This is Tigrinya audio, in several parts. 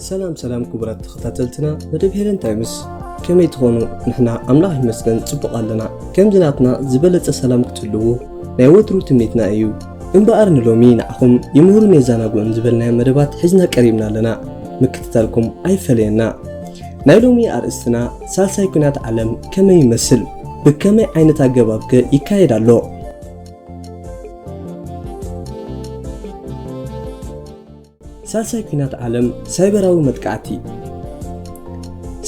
ሰላም ሰላም ክቡራት ተኸታተልትና መደብ ሄለን ታይምስ ከመይ ትኾኑ ንሕና ኣምላኽ ይመስገን ጽቡቕ ኣለና ከምዚ ናትና ዝበለጸ ሰላም ክትህልዉ ናይ ወትሩ ትምኒትና እዩ እምበኣር ንሎሚ ንዓኹም ይምህሩን የዘናግዑን ዝበልናዮ መደባት ሒዝና ቀሪብና ኣለና ምክትታልኩም ኣይፈለየና ናይ ሎሚ ኣርእስትና ሳልሳይ ኲናት ዓለም ከመይ ይመስል? ብከመይ ዓይነት ኣገባብ ከ ይካየድ ኣሎ? ሳልሳይ ኲናት ዓለም ሳይበራዊ መጥቃዕቲ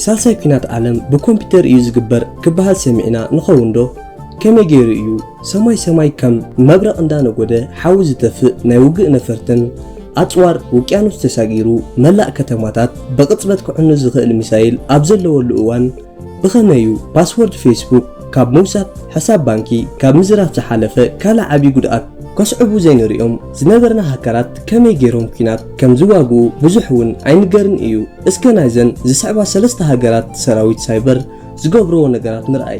ሳልሳይ ኲናት ዓለም ብኮምፒተር እዩ ዝግበር ክበሃል ሰሚዕና ንኸውን ዶ? ከመይ ገይሩ እዩ? ሰማይ ሰማይ ከም መብረቕ እንዳነጎደ ሓዊ ዝተፍእ ናይ ውግእ ነፈርትን ኣጽዋር ውቅያኖስ ተሳጊሩ መላእ ከተማታት ብቕጽበት ክዕኑ ዝኽእል ሚሳይል ኣብ ዘለወሉ እዋን ብኸመይ'ዩ ፓስወርድ ፌስቡክ ካብ ምውሳድ ሕሳብ ባንኪ ካብ ምዝራፍ ዝሓለፈ ካልእ ዓቢ ጉድኣት ከስዕቡ ዘይንርእዮም ዝነበርና ሃከራት ከመይ ጌሮም ኲናት ከም ዝዋግኡ ብዙሕ እውን ኣይንገርን እዩ። እስከ ናይዘን ዝስዕባ ሰለስተ ሃገራት ሰራዊት ሳይበር ዝገብርዎ ነገራት ንርኣይ።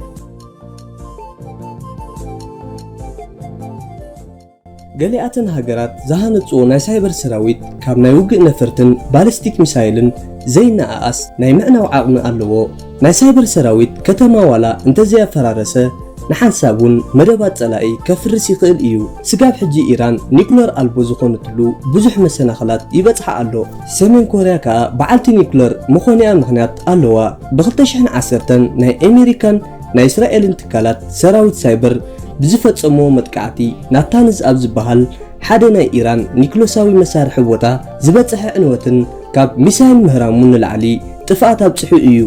ገሊኣተን ሃገራት ዝሃነጽኦ ናይ ሳይበር ሰራዊት ካብ ናይ ውግእ ነፈርትን ባሊስቲክ ሚሳይልን ዘይነኣኣስ ናይ ምዕናው ዓቕሚ ኣለዎ። ናይ ሳይበር ሰራዊት ከተማ ዋላ እንተዘይኣፈራረሰ ንሓንሳብ እውን መደባት ጸላኢ ከፍርስ ይኽእል እዩ። ስጋብ ሕጂ ኢራን ኒኩለር ኣልቦ ዝኾነትሉ ብዙሕ መሰናኽላት ይበጽሓ ኣሎ። ሰሜን ኮርያ ከኣ በዓልቲ ኒኩለር ምኾኒኣ ምኽንያት ኣለዋ። ብ ክልተ ሽሕን ዓሰርተን ናይ ኤሜሪካን ናይ እስራኤልን ትካላት ሰራዊት ሳይበር ብዝፈጸምዎ መጥቃዕቲ ናታንዝ ኣብ ዝበሃል ሓደ ናይ ኢራን ኒኩለሳዊ መሳርሒ ቦታ ዝበጸሐ ዕንወትን ካብ ሚሳይል ምህራሙ ንላዕሊ ጥፍኣት ኣብጺሑ እዩ።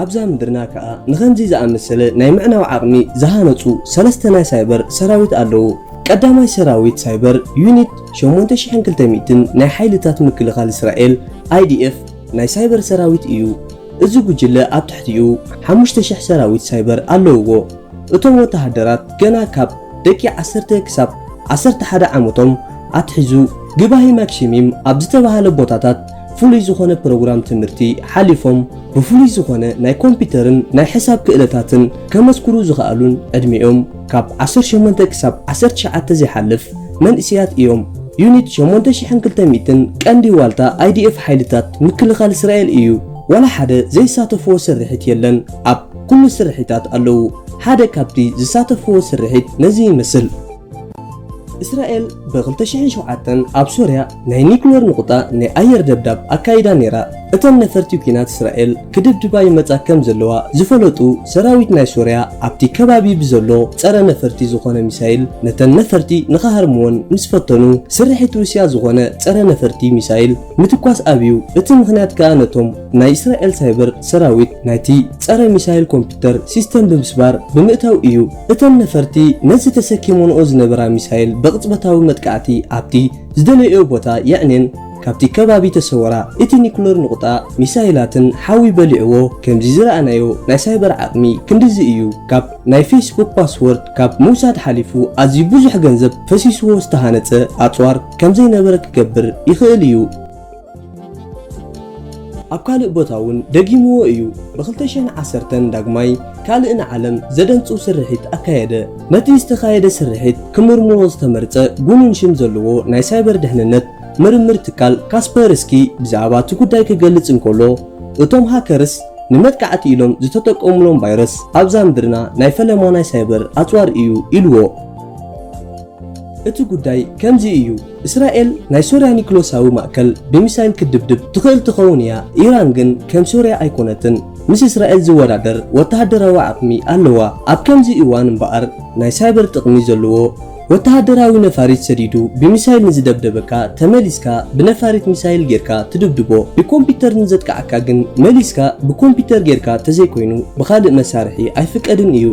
ኣብዛ ምድርና ከኣ ንኸምዚ ዝኣመሰለ ናይ ምዕናው ዓቕሚ ዝሃነጹ ሰለስተ ናይ ሳይበር ሰራዊት ኣለዉ። ቀዳማይ ሰራዊት ሳይበር ዩኒት ሸሞንተ ሽሕን ክልተ ሚእትን ናይ ሓይልታት ምክልኻል እስራኤል፣ IDF፣ ናይ ሳይበር ሰራዊት እዩ። እዚ ጉጅለ ኣብ ትሕቲኡ ሓሙሽተ ሽሕ ሰራዊት ሳይበር ኣለውዎ። እቶም ወተሃደራት ገና ካብ ደቂ ዓሰርተ ክሳብ ዓሰርተ ሓደ ዓመቶም ኣትሒዙ ግባሂ ማክሺሚም ኣብ ዝተባህለ ቦታታት ፍሉይ ዝኾነ ፕሮግራም ትምህርቲ ሓሊፎም ብፍሉይ ዝኾነ ናይ ኮምፒተርን ናይ ሕሳብ ክእለታትን ከመስክሩ ዝኸኣሉን ዕድሚኦም ካብ ዓሰርተ ሸሞንተ ክሳብ ዓሰርተ ትሽዓተ ዘይሓልፍ መንእሰያት እዮም። ዩኒት ሸሞንተ ሽሕን ክልተ ሚእትን ቀንዲ ዋልታ ኣይዲኤፍ ሓይልታት ምክልኻል እስራኤል እዩ። ዋላ ሓደ ዘይሳተፍዎ ስርሒት የለን። ኣብ። ኩሉ ስርሒታት ኣለዉ። ሓደ ካብቲ ዝሳተፍዎ ስርሒት ነዚ ይመስል። እስራኤል ብ ክልተ ሽሕን ሸውዓተን ኣብ ሶርያ ናይ ኒኩለር ንቑጣ ናይ ኣየር ደብዳብ ኣካይዳ ነይራ። እተን ነፈርቲ ኲናት እስራኤል ክድብድባ ይመጻ ከም ዘለዋ ዝፈለጡ ሰራዊት ናይ ሶርያ ኣብቲ ከባቢ ብዘሎ ጸረ ነፈርቲ ዝኾነ ሚሳይል ነተን ነፈርቲ ንኽሃርምወን ምስ ፈተኑ ስርሒት ሩስያ ዝኾነ ጸረ ነፈርቲ ሚሳይል ምትኳስ ኣብዩ። እቲ ምኽንያት ከኣ ነቶም ናይ እስራኤል ሳይበር ሰራዊት ናይቲ ጸረ ሚሳይል ኮምፒተር ሲስተም ብምስባር ብምእታው እዩ እተን ነፈርቲ ነዚ ተሰኪሞንኦ ዝነበራ ሚሳይል ብቕጽበታዊ መጥቃዕቲ ኣብቲ ዝደለይኦ ቦታ የዕኔን ካብቲ ከባቢ ተሰወራ። እቲ ኒኩለር ንቑጣ ሚሳይላትን ሓዊ በሊዕዎ። ከምዚ ዝረኣናዮ ናይ ሳይበር ዓቕሚ ክንድዚ እዩ። ካብ ናይ ፌስቡክ ፓስዎርድ ካብ ምውሳድ ሓሊፉ ኣዝዩ ብዙሕ ገንዘብ ፈሲስዎ ዝተሃነጸ ኣጽዋር ከምዘይነበረ ክገብር ይኽእል እዩ። ኣብ ካልእ ቦታ እውን ደጊምዎ እዩ፣ ብ ክልተ ሽሕን ዓሰርተን ዳግማይ ካልእ ንዓለም ዘደንጹ ስርሒት ኣካየደ። ነቲ ዝተኻየደ ስርሒት ክምርምሮ ዝተመርጸ ግኑን ሽም ዘለዎ ናይ ሳይበር ድሕንነት ምርምር ትካል ካስፐርስኪ ብዛዕባ እቲ ጉዳይ ክገልጽ እንከሎ፣ እቶም ሃከርስ ንመጥቃዕቲ ኢሎም ዝተጠቀሙሎም ቫይረስ ኣብዛ ምድርና ናይ ፈለማ ናይ ሳይበር ኣጽዋር እዩ ኢልዎ። እቲ ጉዳይ ከምዚ እዩ፣ እስራኤል ናይ ሶርያ ኒክሎሳዊ ማእከል ብሚሳይል ክትድብድብ ትኽእል ትኸውን እያ፣ ኢራን ግን ከም ሶርያ ኣይኮነትን፣ ምስ እስራኤል ዝወዳደር ወተሃደራዊ ዓቕሚ ኣለዋ፣ ኣብ ከምዚ እዋን እምበኣር ናይ ሳይበር ጥቕሚ ዘለዎ ወተሃደራዊ ነፋሪት ሰዲዱ ብሚሳይል ንዝደብደበካ ተመሊስካ ብነፋሪት ሚሳይል ጌርካ ትድብድቦ፣ ብኮምፒተር ንዘጥቅዓካ ግን መሊስካ ብኮምፒተር ጌርካ ተዘይኮይኑ ብኻልእ መሳርሒ ኣይፍቀድን እዩ።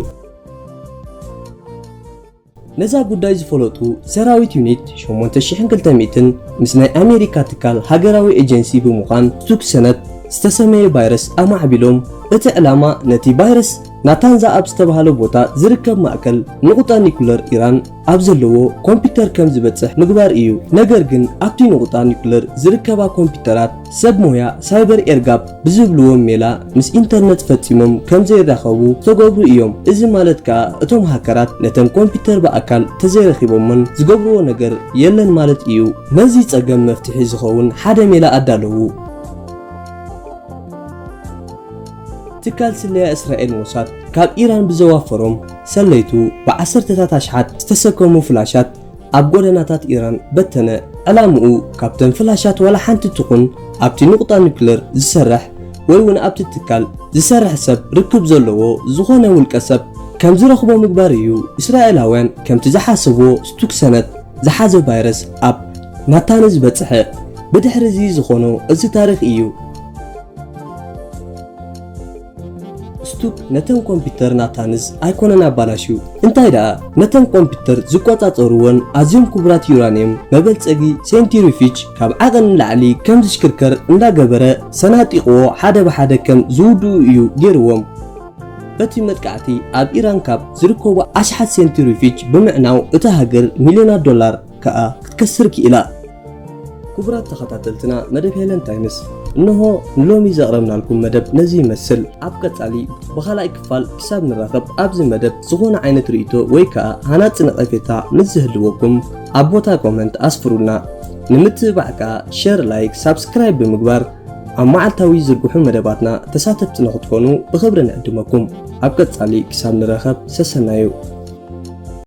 ነዛ ጉዳይ ዝፈለጡ ሰራዊት ዩኒት ሸሞንተ ሺሕን ክልተ ሚእትን ምስ ናይ ኣሜሪካ ትካል ሃገራዊ ኤጀንሲ ብምዃን ቱክ ሰነት ዝተሰመየ ባይረስ ኣማዕቢሎም እቲ ዕላማ ነቲ ባይረስ ናታንዛ ኣብ ዝተባህለ ቦታ ዝርከብ ማእከል ንቑጣ ኒኩለር ኢራን ኣብ ዘለዎ ኮምፒተር ከም ዝበጽሕ ምግባር እዩ ነገር ግን ኣብቲ ንቑጣ ኒኩለር ዝርከባ ኮምፒተራት ሰብ ሞያ ሳይበር ኤርጋፕ ብዝብልዎም ሜላ ምስ ኢንተርነት ፈጺሞም ከም ዘይራኸቡ ዝተገብሩ እዮም። እዚ ማለት ከኣ እቶም ሃከራት ነተን ኮምፒተር ብኣካል ተዘይረኺቦመን ዝገብርዎ ነገር የለን ማለት እዩ። ነዚ ጸገም መፍትሒ ዝኸውን ሓደ ሜላ ኣዳለዉ። ትካል ስለያ እስራኤል ሞሳድ ካብ ኢራን ብዘዋፈሮም ሰለይቱ ብዓሰርተታት ኣሽሓት ዝተሰከሙ ፍላሻት ኣብ ጎደናታት ኢራን በተነ። ዕላምኡ ካብተን ፍላሻት ዋላ ሓንቲ ትኹን ኣብቲ ንቑጣ ኑክሌር ዝሰርሕ ወይ'ውን ኣብቲ ትካል ዝሰርሕ ሰብ ርክብ ዘለዎ ዝኾነ ውልቀ ሰብ ከም ዝረኽቦ ምግባር እዩ። እስራኤላውያን ከምቲ ዝሓሰብዎ ስቱክሰነት ዝሓዘ ቫይረስ ኣብ ናታንዝ በጽሐ። ብድሕሪ'ዚ ዝኾኖ እዚ ታሪኽ እዩ። ስቱፕ ነተን ኮምፒተር ናታንስ ኣይኮነን ኣባላሽዩ እንታይ ደኣ ነተን ኮምፒተር ዝቆጻጸርወን ኣዝዮም ክቡራት ዩራንየም መበልጸጊ ሴንቲሪፊጅ ካብ ዓቐን ንላዕሊ ከም ዝሽክርከር እንዳ ገበረ ሰናጢቕዎ ሓደ ብሓደ ከም ዝውድኡ እዩ ጌርዎም በቲ መጥቃዕቲ ኣብ ኢራን ካብ ዝርከቡ ኣሽሓት ሴንቲሪፊጅ ብምዕናው እታ ሃገር ሚልዮናት ዶላር ከኣ ክትከስር ኪኢላ። ክቡራት ተኸታተልትና መደብ ሄለን ታይምስ እንሆ ንሎሚ ዘቕረብናልኩም መደብ ነዚ ይመስል ኣብ ቀጻሊ ብኻልኣይ ክፋል ክሳብ ንራኸብ ኣብዚ መደብ ዝኾነ ዓይነት ርእይቶ ወይ ከዓ ሃናፂ ነቐፌታ ምስ ዝህልወኩም ኣብ ቦታ ኮመንት ኣስፍሩልና ንምትብባዕ ከዓ ሸር ላይክ ሳብስክራይብ ብምግባር ኣብ መዓልታዊ ዝርግሑ መደባትና ተሳተፍቲ ንክትኮኑ ብክብሪ ንዕድመኩም ኣብ ቀጻሊ ክሳብ ንረኸብ ሰሰናዩ